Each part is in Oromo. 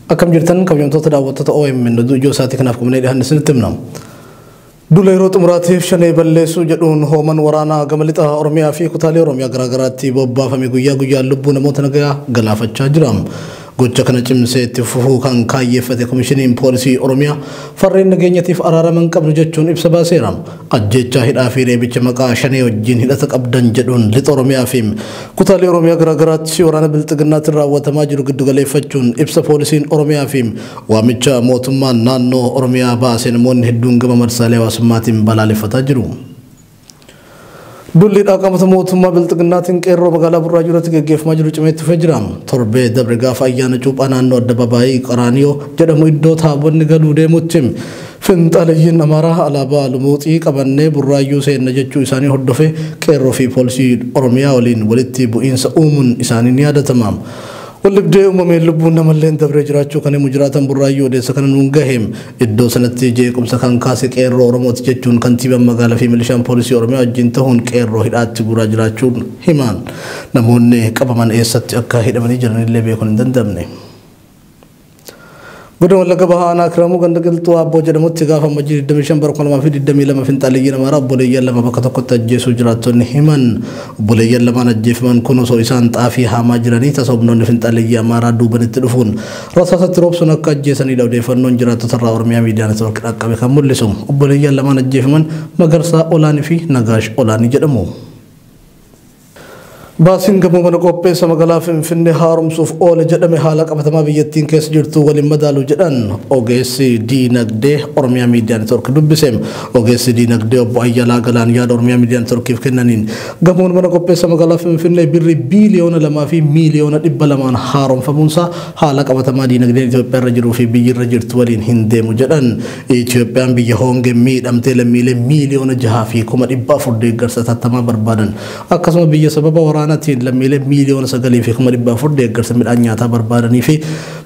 Akkam jirtan kabajamtoota daawwattoota OMN oduu ijoo isaatii kanaaf qabnee dhiyaanne isinitti himna. Duula yeroo xumuraatiif shanee balleessuu jedhuun hooman waraanaa gama lixa Oromiyaa fi kutaalee Oromiyaa garaagaraatti bobbaafame guyyaa guyyaan lubbuu namoota nagayaa galaafachaa jira. Gocha kana cimsee itti fufuu kan kaayyeeffate Komishiniin Poolisii Oromiyaa farreen nageenyatiif araarama hin qabnu jechuun ibsa baaseera. Ajjeechaa, hidhaa fi reebicha maqaa Shanee wajjin hidhata qabdan jedhuun Lixa Oromiyaa fi kutaalee Oromiyaa garaagaraatti waraana Bilxiginnaatiin raawwatamaa jiru giddugaleeffachuun ibsa Poolisiin Oromiyaa fi waamicha mootummaan naannoo Oromiyaa baase namoonni hedduun gama marsaalee hawaasummaatiin balaaleffataa jiru. Dulli dhaqamata mootummaa bilxiginnaatiin qeerroo magaalaa Burraayuu irratti gaggeeffamaa jiru cimee itti fufee jira. Torbee dabre gaafa ayyaana cuuphaa naannoo addababaayii Qaraaniyoo jedhamu iddoo taabonni galuu deemutti finxaaleyyiin Amaaraa alaabaa lumuuxii qabannee Burraayuu seenna jechuu isaanii hordofee qeerroo fi poolisii Oromiyaa waliin walitti bu'iinsa uumuun isaanii ni yaadatama. Waldhibdee uumameen lubbuun namalleen dabree jiraachuu kan himu jiraataan Burraayuu odeessa kana nuun gahe. Iddoo sanatti jeequmsa kan kaase Qeerroo Oromooti jechuun kantiibaan magaalaa fi milishaan poolisii Oromiyaa wajjin tahuun qeerroo hidhaatti guuraa jiraachuun himan. Namoonni qabaman eessatti akka hidhamanii jiran illee beekuun hin danda'amne. Godina Wallagga Bahaa Aanaa Kiramuu ganda Qilxuu Aabboo jedhamutti gaafa Ammajjii 25 bara 2022 finxaaliyyiin Amaaraa obboleeyyan lama bakka tokkotti ajjeesuu jiraattonni himan. Obboleeyyan lamaan ajjeefaman kun osoo isaan xaafii haamaa jiranii tasa humnoonni finxaaliyyii Amaaraa duubanitti dhufuun Rasaasa itti roobsuun akka ajjeesanidha odeeffannoon jiraattotarraa Oromiyaa Miidiyaa Network dhaqqabe kan mul'isu. Obboleeyyan lamaan ajjeefaman Magarsaa Olaanii fi Nagaash Olaanii jedhamu. Baasiin gamoo mana qopheessa magaalaa Finfinnee haaromsuuf oole jedhame haala qabatamaa biyyattiin keessa jirtu waliin madaalu jedhan ogeessi diinagdee Oromiyaa Miidiyaa Network dubbise. Ogeessi diinagdee obbo Ayyalaa Galaan yaada Oromiyaa Miidiyaa Networkiif kennaniin Gamoon Mana Qopheessa Magaalaa Finfinnee Birrii biiliyoona 2 fi miiliyoona 200'n haaromfamuunsaa haala qabatamaa diinagdeen Itoophiyaarra jiruu fi biyyirra jirtu waliin hin deemu jedhan. Itoophiyaan biyya hoongeen miidhamtee lammiilee miiliyoona 6 fi kuma 400 deeggarsa atattamaa barbaadan, akkasuma biyya sababa waraanatiin lammiilee miiliyoona 9 fi kuma 400 deeggarsa midhaan nyaataa barbaadaniifi.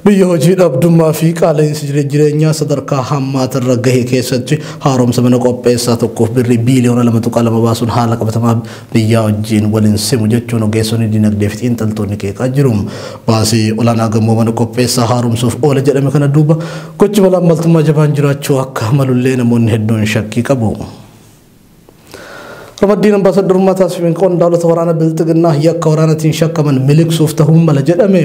Biyya hojii dhabdummaa fi qaala'insi jireenyaa sadarkaa hammaata irra gahe keessatti haaromsa mana qopheessaa tokkoof birrii biiliyoona 2.2 baasuun haala qabatamaa biyyaa wajjin wal hin simu jechuun ogeessonni dinagdee fi xiinxaltoonni qeeqaa jiru. Baasii olaanaa gamoo mana qopheessaa haaromsuuf oole jedhame kana duuba gochi malaammaltummaa jabaan jiraachuu akka malullee namoonni hedduun shakkii qabu. Ramaddiin ambaasaddarummaa taasifame qondaalota waraana bilxiginnaa yakka waraanatiin shakkaman miliqsuuf ta'uu mala jedhame.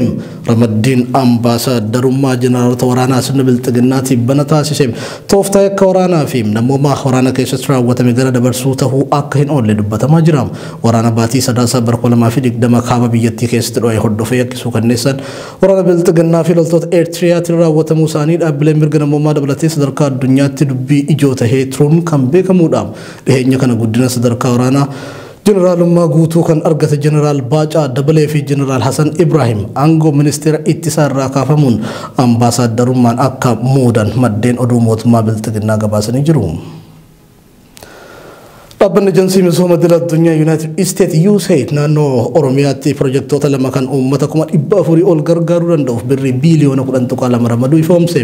Ramaddiin ambaasaddarummaa jeneraalota waraanaa sirna bilxiginnaa tibbana taasise tooftaa yakka waraanaa fi namoomaa waraana keessatti raawwatame gara dabarsuu ta'uu akka hin oolle dubbatamaa jira. Waraana baatii Sadaasaa bara 2020 kaaba biyyattii keessatti dho'e hordofee yakkisuu kanneessan Waraana Bilxiginnaa fi loltoota Eertiriyaatiin raawwatamuu isaanii dhaabbileen mirga namoomaa dabalatee sadarkaa addunyaatti dubbii ijoo tahee turuun kan beekamuudha. Dhiheenya kana guddina sadarkaa waraanaa Jeneraalummaa guutuu kan argate Jeneraal Baacaa Dabalee fi Jeneraal Hasan Ibraahim aangoo ministeera ittisaa irraa kaafamuun ambaasaaddarummaan akka muudan maddeen oduu mootummaa Bilxiginnaa gabaasanii jiru. Dhaabbanni Ejansii Misooma Idil Addunyaa Yuunaayitid Isteet USAID naannoo Oromiyaatti pirojektoota lama kan uummata kuma dhibba afurii ol gargaaruu danda'uuf birrii biiliyoona kudhan tuqaa lama ramaduu ifoomse.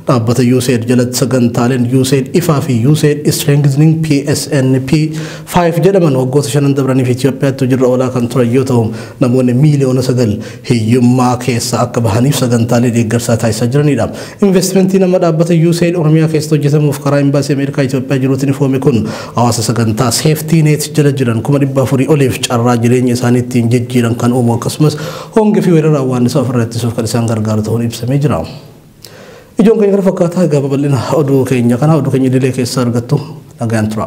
Dhaabbata USAID jalatti sagantaaleen USAID ifaa fi USAID Strengthening PSNP 5 jedhaman waggoota shanan dabraniif Itoophiyaatti hojiirra oolaa kan turan yoo ta'u namoonni miiliyoona sagal hiyyummaa keessaa akka bahaniif sagantaalee deeggarsaa taasisaa jiranidha. Investimentiin amma dhaabbata USAID Oromiyaa keessatti hojjetamuuf karaa Imbaasii Ameerikaa Itoophiyaa jiruutiin ifoome kun hawaasa sagantaa Safety Net jala jiran kuma dhibba afurii oliif carraa jireenya isaanii ittiin jijjiiran kan uumu akkasumas hongee fi weerara awwaannisaa ofirraa ittisuuf kan isaan gargaaru ta'uun ibsamee jira. Ijoon keenya kana fakkaata egaa babal'ina oduu keenya kana oduu keenya idilee keessaa argattu nagaan tura.